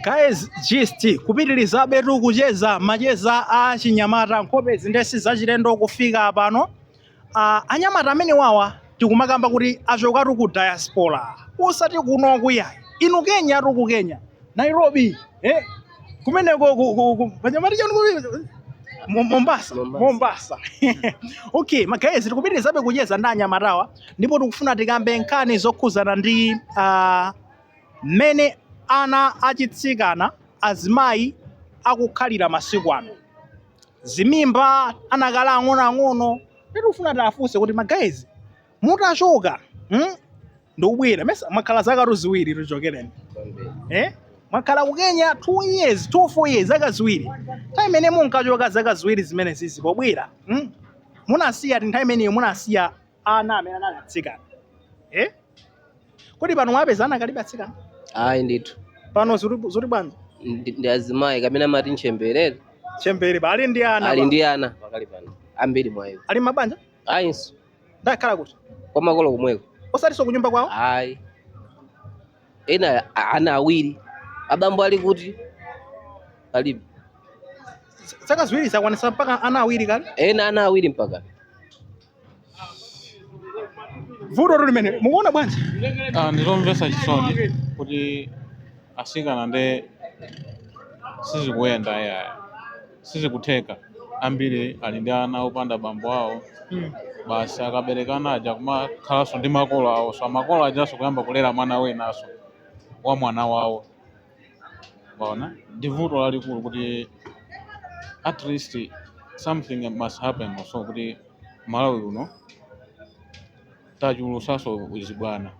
Guys, tikupitilizabe tu kucheza macheza a chinyamata nkhope izi nde si zachilendo kufika pano uh, anyamata amenewawa tikumakamba kuti achokatu ku diaspora usati kuno kaya inu kenya tu ku kenya nairobi eh? kumeneko ku- ku- ku- panyamata chanu kuti- Mo- mombasa Mombasa. mombasa okay ma guys tikupitirizabe kucheza ndi anyamatawa ndipo tikufuna tikambe nkhani zokhuzana ndi uh, Mmene Ana Achitsikana, Azimayi, Akukhalira Masiku Ano. Zimimba anakali ang'onoang'ono tikufuna tiafunse kuti ma guys mutachoka hmm? ndikubwera nesa mwakhala zakatu ziwiri chichokereni eh? mwakhala ku Kenya 2 years 2 full years zaka ziwiri nthawi imene munkachoka zaka ziwiri zimenezizi pobwera hmm? munasiya ti nthawi imeneyo munasiya ana amene anakali atsikana eh? kodi pano mwapeza anakalibe atsikana ayi ndithu pano zili zili bwanji ndi ndi azimayi kapena amati ntchembere chembere ali ndi ana ali pano. ndi ana pakali pano ambiri mwa iwo sali m'mabanja ayinso ndi akukhala kuti kwa makolo komweko osatinso kunyumba kwawo ayi ena a- ana awiri abambo ali kuti palibe zaka ziwiri zakwanisa mpaka ana awiri kale ena ana awiri mpaka vutotu limeneli mukuona bwanji Ah, ndilomvesa chisoni kuti asikana nde sizikuyenda ayi aa sizikutheka ambiri ali ndi ana opanda bambo awo basi akabereka ana aja kumakhalanso ndi makolo awo so makolo ajanso kuyamba kulera mwana winaso wa mwana wawo Waona? Ndi vuto lalikulu kuti at least something must happen also kuti m'Malawi uno tachulusanso uzibwana.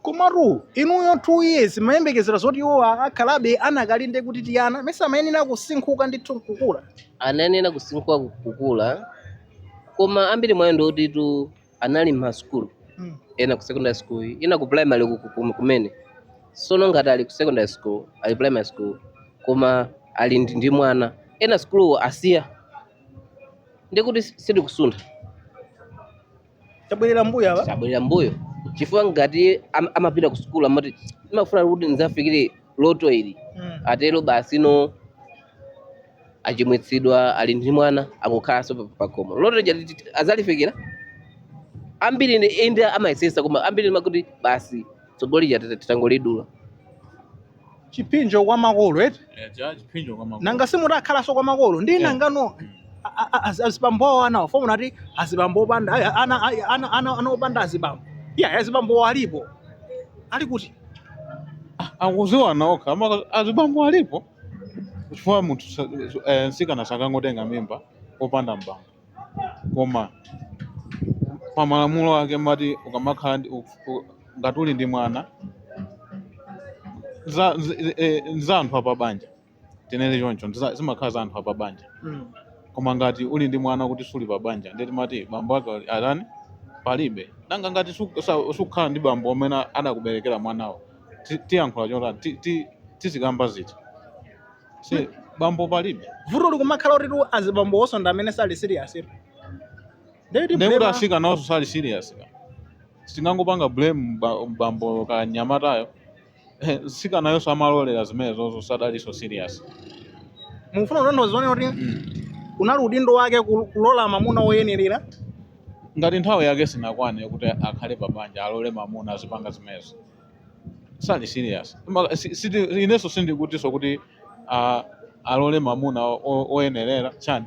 komatu inuyo two years mumayembekezera zoti iwowa akhalabe anakali ndi kuti tiana nesa amayenera kusinkhuka ndithu nkukula anayenera kusinkhuka kukula koma ambiri mwa iwo ndi otitu anali m'ma school Mm. ena ku secondary school ena ku primary ku- ku- kumene sono ngati ali ku secondary school ali primary school koma ali ndi, ndi mwana ena school asiya ndikuti sitikusuntha Tabwerera mbuyo wa. tabwerera mbuyo chifukwa ngati am- amapita ku school amati ndimafuna kuti ndidzafikire loto ili Mm. atero basi pano achimwitsidwa ali ndi mwana akukhalanso pa- pakhomo loto lija liti- azalifikira ambiri ndi inde amayesesa koma ambiri mumakhala kuti basi tsogolo lija tita- titangolidula chipsinjo kwa makolo eti Eh, cha chipsinjo kwa makolo. nanga si mukukhalanso kwa makolo ndi Yeah. nangano a- a- a- az- azibambowo a anawo pomwe munati azibambo opanda ayi, ana- ayi, ana- ana- ana opanda azibambo iya azibambowo alipo ali kuti akuziwana okha ama- azibambo alipo chifukwa munthu sa- eh, mtsikana sakangotenga mimba popanda mbambo koma pa malamulo ake timati ukamakhala ndi- u- u- ngati uli ndi mwana za- z- eh, za anthu apabanja tinene choncho ndiza- zimakhala za anthu apa banja Mm. koma ngati uli ndi mwana kuti suli pa banja ndiye timati bambo ake ali- atani palibe nanga ngati su- sa- sukhala ndi bambo amene adakuberekera mwanawo ti- tiyankhula chotani Ti- ti- tizikamba ziti si bambo palibe vuto likumakhala kutitu azibambo onse ndi amene sali serious ito ndekuti ndekuti asikanawonso sali serious kaya sitingangopanga blame mba- mbambo kanyamatayo mtsikanayoso amalolera zimenezozo sadaliso serious mufuna kutanthauza zoti kuti unali udindo wake kul- kulola mamuna woyenerera ngati nthawi yake sinakwane kuti akhale pabanja alole mamuna azipanga zimenezo sali serious Ma- si- siti- inenso sindikutinso kuti ah, alole mamuna o- o- oyenerera chani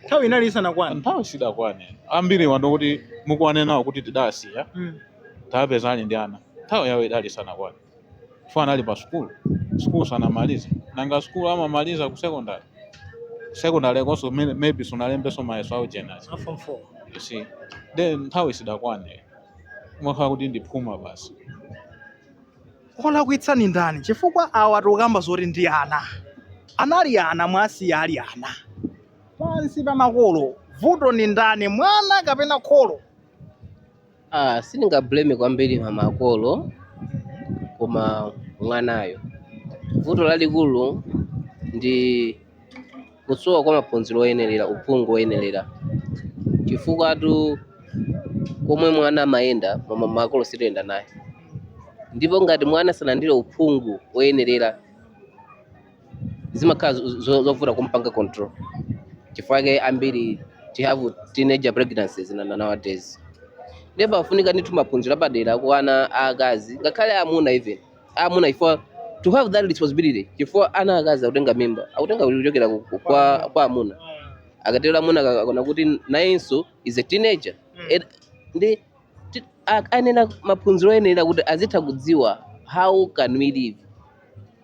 nthawi inali isanakwane nthawi sidakwane ambiri wa ndoti mukumane nawo kuti tidasiya Mm. tapeza ali ndi ana nthawi yawo idali isanakwane chifukwa anali pa sukulu sukulu sanamalize nanga sukulu amamaliza ku secondary Ku secondary konso may- maybe sunalembenso mayeso a wojenazi Form 4. you see then nthawi sidakwane umakhala kuti ndiphuma basi olakwitsa ni ndani chifukwa awa tikukamba zoti ndi ana anali ana mwasiyawa ali ana pansi pa makolo vuto ni ndani mwana kapena kholo Ah, sindingablame kwambiri ma makolo koma mwanayo. Vuto lalikulu ndi kusowa kwa maphunziro oyenerera, uphungu woyenerera. Chifukwatu komwe mwana amayenda ma- ma- makolo sitiyenda naye, ndipo ngati mwana sanalandire uphungu woyenerera zimakhala zo- zo- zovuta kumpanga control chifukwa chake ambiri tihave teenager pregnancies na- na- nowadays ndiye pafunika ndithu maphunziro apadera ku ana aakazi ngakhale amuna even amuna chifukwa to have that responsibility chifukwa ana akazi akutenga mimba akutenga kuchokera ku- ku- kwa kwa amuna akatero amuna akaona kuti nayenso is a teenager Ed- ndi Ti- a- ayenera maphunziro oyenera kuti azitha kudziwa how can we live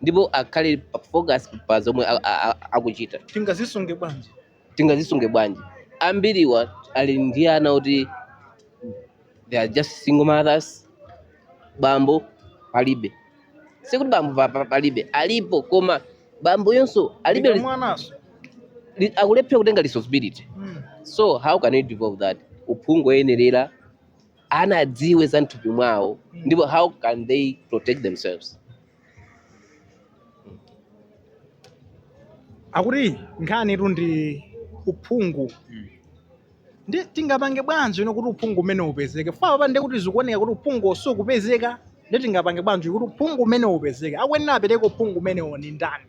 ndipo akhale pa- focus pa zomwe a- a- a- akuchita tingazisunge bwanji tingazisunge bwanji ambiriwa ali ndi ana kuti they are just single mothers bambo palibe sikuti bambo pa- palibe alipo koma bamboyonso alibe Ika res- mwanaso li- akulephera kutenga responsibility Mm. so how can you devolve that uphungu oyenerera ana adziwe za mthupi mwawo Mm. ndipo how can they protect themselves akuti nkhani tu ndi uphungu Mm. Ndi tingapange bwanji no kuti uphungu umene upezeke? Chifukwa apa ndiye kuti zikuoneka kuti uphungu sukupezeka. Ndi tingapange bwanji kuti uphungu umene upezeke? Akuyenera apereke uphungu umenewo ndi ndani?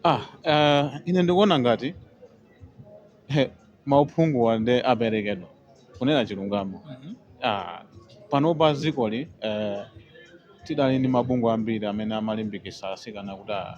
Ah, eh, ine ndikuona ngati he, mauphunguwa nde aperekedwa kunena chilungamo. Ah, panopa dzikoli eh, tidali ndi mabungwe ambiri amene amalimbikitsa atsikana kuti ah,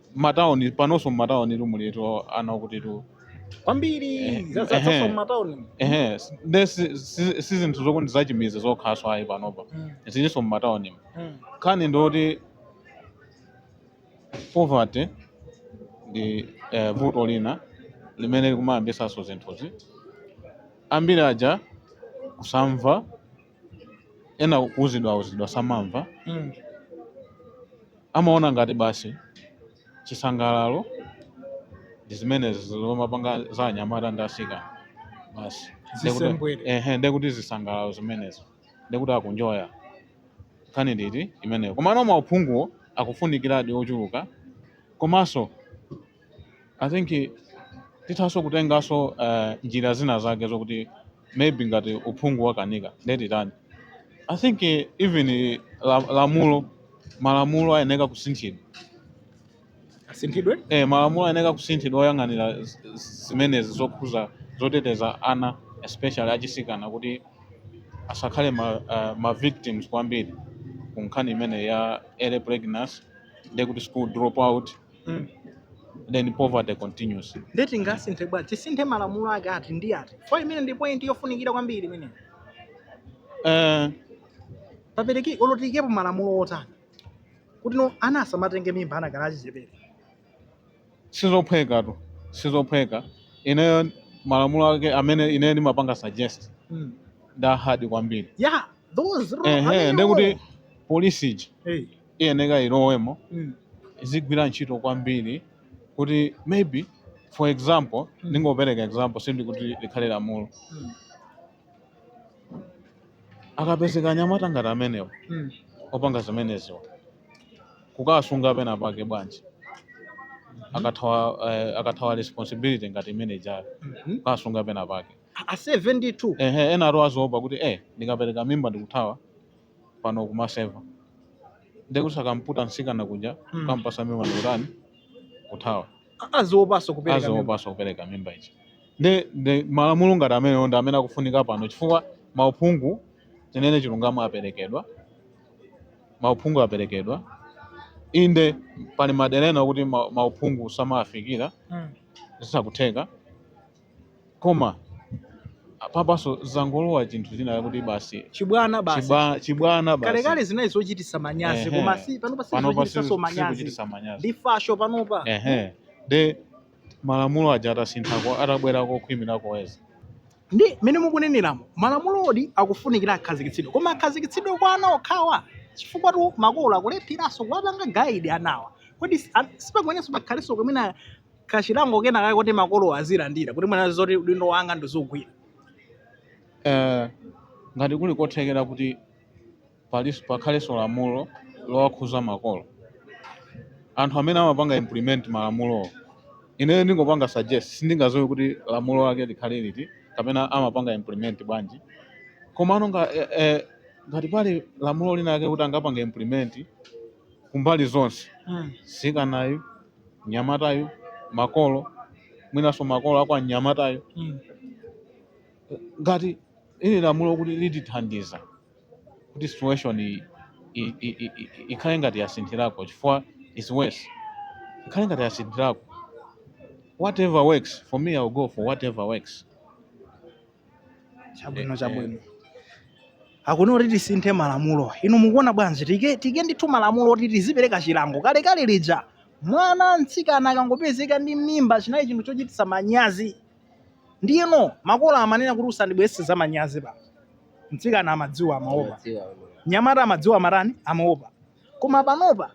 matauni panonso mmatauni tu mulitu ana okuti tu kwambiri Eh, za- za- ehe. za mmatawuni ehe si- nde si- si si zinthu zokuti zachimidzi zokhaso ayi panopa Mm, zilinso mmatauni mm. nkhani ndoti poverty ndi eh, vuto lina limene likumayambitsanso zinthuzi ambiri aja kusamva ena kuuzidwa auzidwa samamva mm. amaona ngati basi chisangalalo ndi zimenezi zomapanga za anyamata ndi asikana basi Zisembwere. ehe ndekuti zisangalalo zimenezo ndekuti akunjoya nkhani ndoti imeneyo komano mauphunguwo akufunikiradi ochuluka komanso I think tithanso kutenganso uh, njira zina zake zokuti maybe ngati uphungu wakanika ndetitani I think eh, even eh, la, lamulo malamulo ayeneka kusinthidwa asinthidwe eh, malamulo ayeneka kusinthidwa oyang'anira z- z- zimenezi zokhudza zoteteza ana especially achisikana kuti asakhale ma, uh, ma victims kwambiri ku nkhani imene ya early pregnancy ndekuti school dropout mm. then poverty continues ndeti tingasinthe bwa tisinthe malamulo ake ati ndi ati chifukwa imene ndi point yofunikira kwambiri imene uh, eh. papereki olotikepo malamulo otani kuti no ana asamatenge mimba ana adakali achichepere sizophweka tu sizophweka ineyo malamulo ake amene ineyo ndimapanga suggest mm. nda hard kwambiri yeah, those, uh -huh, ndekuti police iji hey. iyeneka ilowemo mm. izigwira ntchito kwambiri kuti maybe for example mm. ndingopereka example si ndikuti likhale lamulo mm. akapezeka anyamata ngati amenewo mm. opanga zimeneziwa kukasunga penapake bwanji mm-hmm. akathawa uh, akathawa responsibility ngati imene ijayo mm -hmm. kukasunga penapake a 72 ehe ena atha aziopa kuti eh ndikapereka mimba ndikuthawa pano kumaseva ndiye kuti akamputa msikana kuja Hmm. kampasa mimba ndikutani kuthawa A- aziopanso kupereka mimba. aziopanso kupereka mimba ichi ndi ndi malamulo ngati amenewo ndi amene akufunika pano chifukwa mauphungu tinene chilungamo aperekedwa mauphungu aperekedwa inde pali madera ena okuti ma- mauphungu samawafikira Mm. zisakutheka Koma apapaso zangolowa chinthu china chakuti basi chibwana basi chiba- chibwana basi kalekale zinali zochitisa manyazi Ehe. koma si panopa si panopa zochitisaso si- manyazi sikuchitisa manyazi ndi fasho panopa ehe nde malamulo aja atasinthako atabwera kokhwimirako Eya ndi mmene mukuneneramo malamulodi akufunikira akhazikitsidwe koma akhazikitsidwe kwa ana okhawa chifukwatu makolo akulepheranso kuwapanga guide anawa kodi si- a- sipakuyeneranso pakhalenso kumene kachilango kena kake kuti makolo azilandira kuti mwina zoti udindo wanga ndizigwira Eh, ngati kuli kothekera kuti palis- pakhalenso lamulo lowakhuza makolo anthu amene amapanga implement malamulowo ineyo ndingopanga suggest sindingadziwe kuti lamulo lake likhale liti kapena amapanga implement bwanji komano nga, eh, eh, ngati pali lamulo lina lake kuti angapange implement kumbali zonse msikanayu mnyamatayu makolo mwinanso makolo akwa mnyamatayo mm. ngati ili lamulo kuti litithandiza kuti situation iyi i- i- i- i- ikhale ngati yasinthirako chifukwa is worse ikhale ngati yasinthirako whatever works for me I'll go for whatever works chabwino Eh, chabwino akuna kuti tisinthe malamulo inu mukuona bwanji tiike tiike ndithu malamulo kuti tizipereka chilango kalekale lija mwana mtsikana akangopezeka ndi mimba chinali chinthu chochititsa manyazi ndiyeno makolo amanena kuti usandibweretse za manyazi pano mtsikana amadziwa amaopa Amadziwa, amaopa. nyamata amadziwa amatani amaopa koma panopa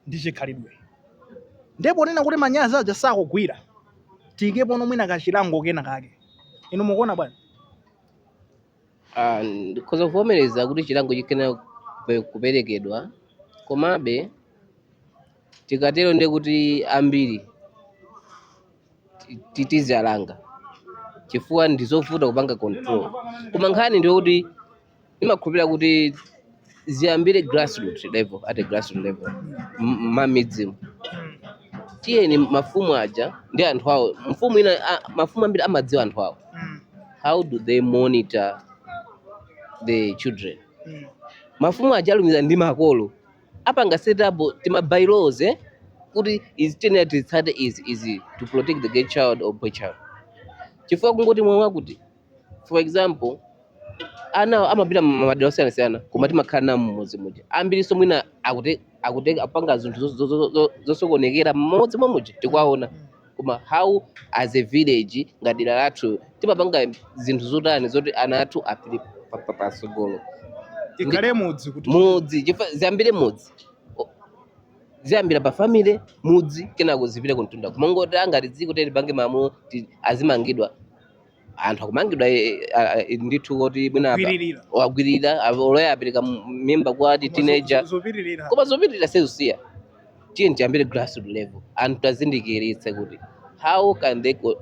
ndi chikhalidwe. Ndiye ponena kuti manyazi aja sakugwira, tiikepono mwina kachilango kena kake. Inu mukuona bwanji? Ah, ndikhoza kuvomereza kuti chilango chiyenera kupe- kuperekedwa komabe tikatero ndiye kuti ambiri ti- ti- tizialanga chifukwa ndizovuta kupanga control koma nkhani ndiyokuti ndimakhulupirira kuti ziyambire grassroot level at a grassroot level m- mmidzimu tiyeni mafumu aja ndi anthu awo mfumu ina a- mafumu ambiri amadziwa anthu awo how do they monitor the children mafumu aja alumiza ndi makolo apanga setup tima bylaws eh? kuti izi tiyenera titsate izi izi to protect the girl child or boy child chifukwa kungoti mwamva kuti for example ana amapita mmadera osiyanasiyana koma timakhala nawo mmudzi muja ambirinso mwina akute akute apanga zinthu zo- zo- zo- zo- zosokonekera mmodzi mwa muja tikuwaona koma how as a village ngati dera lathu timapanga zinthu zotani zoti ana athu apite pa- pa- patsogolo tikhale mudzi kuti mudzi chifa- ziyambire mudzi O- ziyambira pa family mudzi kenako zipite kuntunda kumangoti angati dziko tipange malamulo azimangidwa anthu akumangidwa eh, ah, ah, ndithu kuti mwina apa- Kugwiririra. wagwiririra apa- oloya apereka m- mimba kwa teenager Zopitirira. koma zopitirira sizisiya tiyeni tiyambire grassroot level anthu tiwazindikiritse kuti how can they co-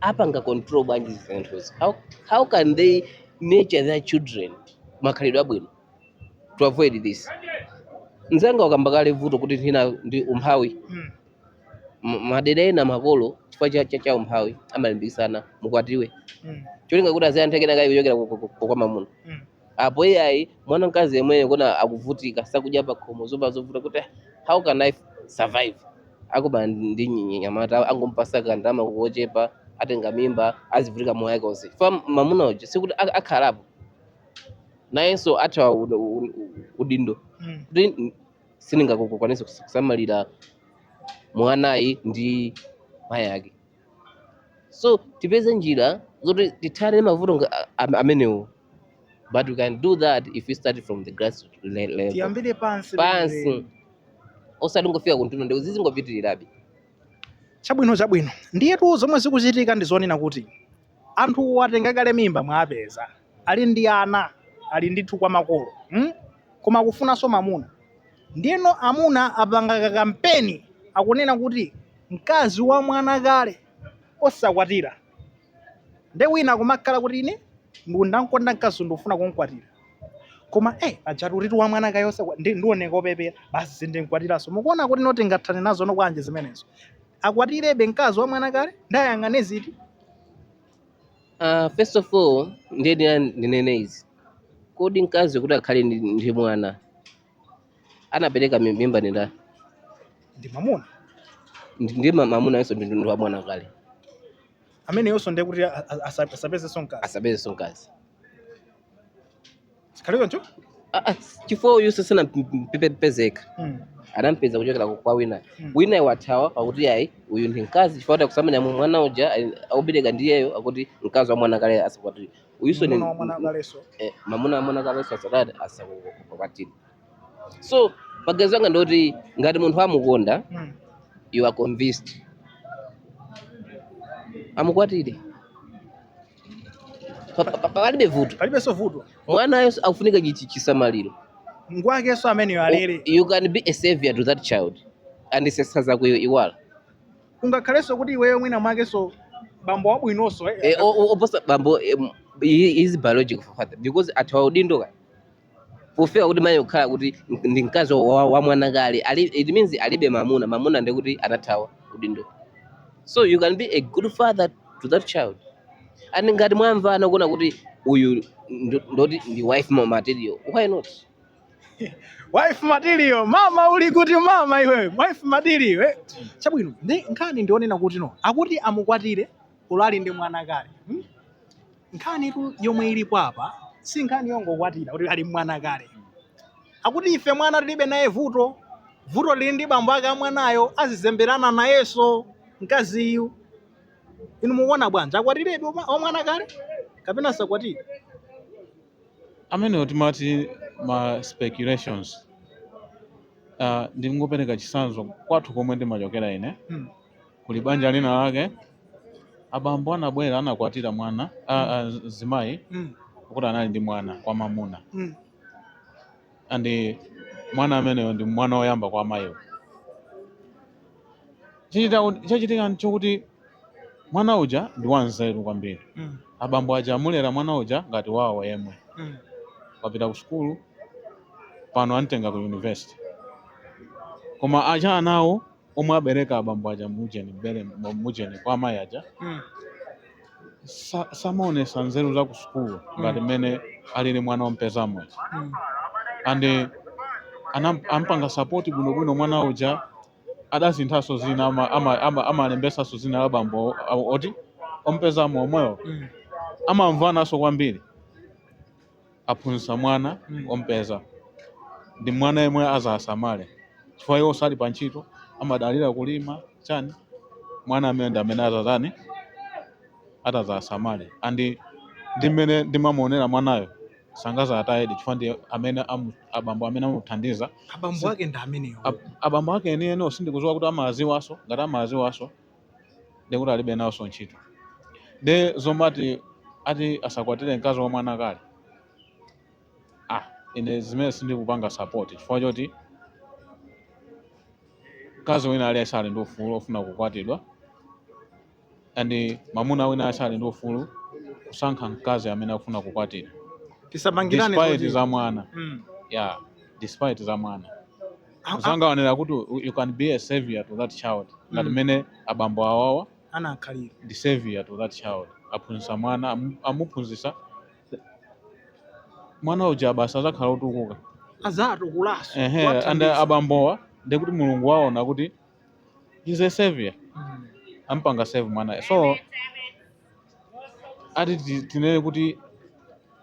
apanga control bwanji zinthuzi how, how can they nurture their children makhalidwe abwino to avoid this mzanga wakamba kale vuto kuti nthina ndi umphawi Mm. madera ena makolo chifukwa cha, cha, cha umphawi amalimbikisana mukwatiwe mm. cholinga kuti aziyantheke nakayi kuchokera ku- ku- ku- kwa mamuna mm. apo iyayi mwana mkazi yemweyo kuona akuvutika sakudya pakhomo zovala zovuta kuti "Ah, how can i survive akumana ndi nyi- nyamata angompatsa kandalama kochepa atenga mimba azivutika moyo wake onse chifukwa mamuna uja sikuti ak- akhalapo nayenso athawa ud- ud- udindo mm. kuti sindingakwanitse kusamalira mwanayu ndi mayi ake so tipeze njira zoti tithane ndi mavuto nga- a- a- amenewo but we can do that if we start from the grass le- level tiyambire pansi pansi penipeni. osangofika kuntunda ndi zizingopitirirabe chabwino chabwino ndiyetu zomwe zikuchitika ndi zonena kuti Anthuwo atenga kale mimba mwapeza ali ndi ana ali ndithu kwa makolo mm? Koma akufunanso mamuna ndiyeno amuna apanga ka kampeni akunena kuti mkazi wa mwana kale osakwatira nde wina akumakhala kuti ine ndinamkonda mkazi ndikufuna kumkwatira koma eh, pajatu alitu wa mwana kale osakwa ndi- ndioneka opepera basi sindinkwatiranso mukuona kuti no tingathane nazo no bwanji zimenezo akwatirebe mkazi wa mwana kale ndiye ayang'ane ziti Uh, first of all ndiyenera ndinene izi kodi mkazi kuti akhale ndi, ndi mwana anapereka mi- mimba ndi ndani ndi mamuna Ndi- ndi ma- mamuna iyenso ndi ndi wa mwana kale ameneyonso ndiye kuti a- a- asa- asapezenso mkazi asapezenso mkazi Zikhale choncho? Ah, ah, chifukwa uyuso sanampezeka Mm. adampeza kuchokera kwa wina Mm. wina wathawa pakuti ayi uyu ndi mkazi chifukwa akusamalira mwana uja ali- akubereka ndiyeyo akuti mkazi wa mwana kale asakwatire uyuso ni Mwana wa mwana kaleso. eh, mamuna wa mwana kaleso asatati asakwatire so maganizo anga ndoti ngati munthu amukonda Mm. you are convinced amukwatire Pa- pa- pa- palibe vuto palibenso vuto mwanayo akufunika chichi- chisamaliro ngwakenso ameneyo alere U- you can be a savior to that child and zisa zako iyo iwala kungakhalenso kuti iweyo mwina mwakenso bambo wabwinonso eh, Eh, o- o- oposa bambo eh, m- he he is biological father because athawa udindo ka pofika kuti mayi kukhala kuti ndi mkazi wa, wa mwana kale, it means alibe mamuna mamuna ndi kuti anathawa udindo so you can be a good father to that child and ngati mwamvana kuona kuti uyu ndo- ndoti ndi wife ma- material why not wife material mama uli kuti mama iwe wife material eh? chabwino ndi nkhani ndi yonena kuti no akuti amukwatire ulali ndi mwana kale hmm? Nkhanitu yomwe ilipo apa si nkhani yongokwatira kuti ali mwana kale. Akuti ife mwana tilibe naye vuto, vuto lili ndi bambo ake a mwanayo azizemberana nayenso mkaziyu. Inu mukuona bwanji, akwatirebe wama- wamwana kale kapena asakwatire? amenewo timati ma speculations uh, ndingopereka chisanzo kwathu komwe ndimachokera ine Hmm. Kuli banja lina lake abambo anabwera anakwatira mwana a- a- mzimayi Mm. woti anali ndi mwana wamwamuna Mm. andi mwana ameneyo ndi mwana woyamba kwa mayiwo Chichita- chachitika nchokuti mwana uja ndi wanzeru kwambiri Mm. abambo aja amulera mwana uja ngati wawo yemwe Mm. wapita ku sukulu pano antenga ku university koma aja anawo omwe abereka abambo aja mujeni mbere mujeni kwa amayi aja mm. sa- samaonesa nzeru za ku sukulu ngati mmene alili mwana ompezamo uja Mm. and eh, anam- ampanga sapoti bwinobwino mwana uja adasinthaso zina ama- ama- ama- amalembesaso zina la bambo o- o- oti ompezamo omwewo Mm. amamvanaso kwambiri aphunzitsa mwana Mm. ompeza ndi mwana yemwe azasamale chifukwa iwo sali pa ntchito amadalira kulima chani mwana ameneyo ndi amene azazani atazasamale andi ndi mmene ndimamuonera mwanayo sangazawatayedi chifukwa ndi amene amu- abambo amene amuthandiza abambo ake ndi amenewo Ab- abambo ake enieni sindikuziwa kuti amaziwaso ngati amaziwaso ndikuti alibe nawonso ntchito nde zomati ati asakwatire mkazi wa mwana kale ah ine zimenezo sindikupanga support chifukwa choti mkazi wina aliyense ali ndi ufulu ofuna kukwatidwa and mamuna wina aliyense ali ndi ufulu kusankha mkazi amene akufuna kukwatira tisamangirane despite zoti- za mwana Mm. yeah despite za mwana mzanga waonera kuti you can be a savior to that child ngati mmene mm. abambo awawa anakhalira ndi savior to that child aphunzitsa mwana amuphunzitsa mwana uja basi azakhala otukuka azatukulaso and abambowa ndi kuti mulungu waona kuti he's a savior mm. ampanga save mwana so ati ti- tinene kuti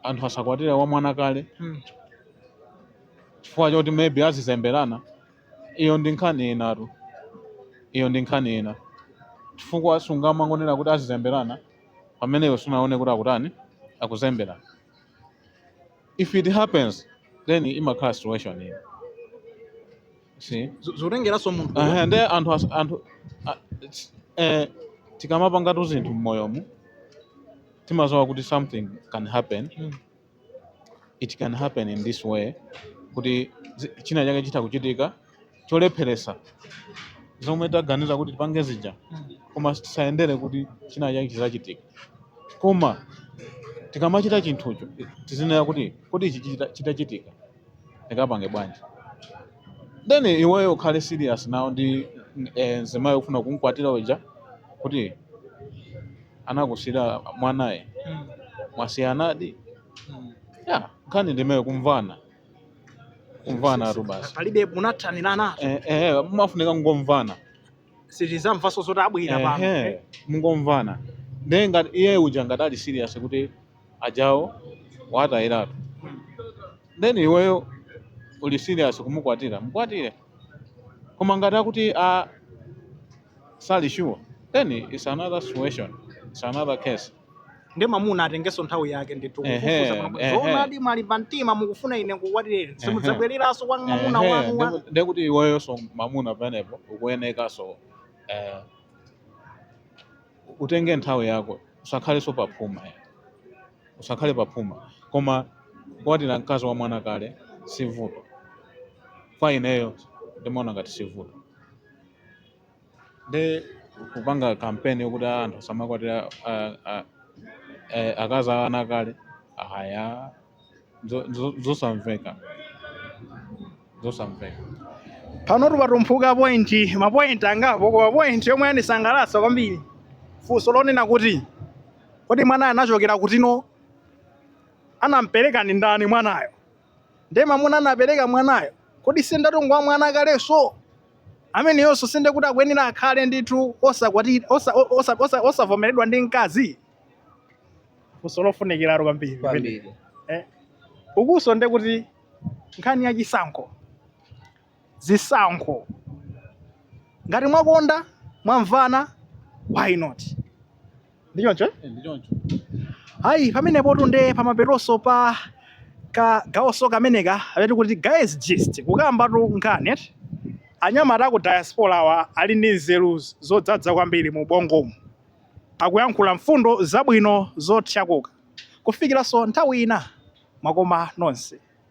anthu asakwatira wa mwana kale Mm. chifukwa choti maybe azizemberana iyo ndi nkhani inatu iyo ndi nkhani ina chifukwa sungamangonera kuti azizemberana pameneyo sunaone kuti akutani akuzemberana if it happens then imakhala situation ina si Zo- zotengeranso munthu Aha, ndi anthu as- anthu a- ts- eh, tikamapangatu zinthu mmoyomu timaziwa kuti something can happen Mm. it can happen in this way kuti zi- china chake chitha kuchitika cholepheresa zomwe taganiza kuti tipange zija koma tisayendere kuti china chake chizachitika koma tikamachita chinthucho tizinena kuti kodi ichi chita- chitachitika ndikapange bwanji then iweyo ukhale serious nawo ndi eh, mzimayo ufuna kumkwatira uja kuti anakusira mwanaye Mm. mwasiyanadi Mm. ya nkhani ndimeyo kumvana kumvana tu basi palibe munathanirananso Eh, eh, mumafunika mungomvana sitizamvanso zoti abwera pano Ehe, mungomvana nde ngati iye uja ngati ali serious kuti ajawo watayiratu then iweyo uli serious kumukwatira mukwatire koma ngati akuti a sali sure then it's another situation it's another case ndi mamuna atengenso nthawi yake ndithu kufufuza ehe. zoonadi mwalimba mtima mukufuna ine kukwatireni simudzabwereranso kwa mamuna Ehe, wanu wa- ndeku- ndekuti iweyoso mamuna penepo ukuyenekaso eh, utenge nthawi yako usakhaleso paphuma ya usakhale paphuma koma kukwatira mkazi wa mwana kale si vuto kwa ineyo ndimaona ngati si vuto ndi kupanga kampeni yokuti "Ah, anthu asamakwatira ah, ah, eh, akazi a ana kale aya zosamveka zosamveka pano tupatumphuka pointi mapointi angapo koma pointi yomwe yandisangalatsa kwambiri funso lonena kuti kodi mwanayo anachokera kuti no anampereka ndi ndani mwanayo ndi mamuna anapereka mwanayo kodi sinde atengedwa wa mwana kalenso ameneyonso sinde kuti akuyenera akhale ndithu osakwati- osa- osa- osa- osavomeredwa ndi mkazi funso lofunikiratu kwambiri kwambiri Eh, ukunso nde kuti nkhani ya chisankho zisankho ngati mwakonda mwamvana why not ndichoncho eh? Eh, ndi choncho hayi pamenepotu nde pamapetonso pa kagawonso kameneka kamene timati guys gist kukambatu nkhani eti anyamata aku diaspora awa ali ndi nzeru zodzadza kwambiri mu bongomu Akuyankhula mfundo zabwino zothyakuka kufikiranso nthawi ina mwakoma nonse.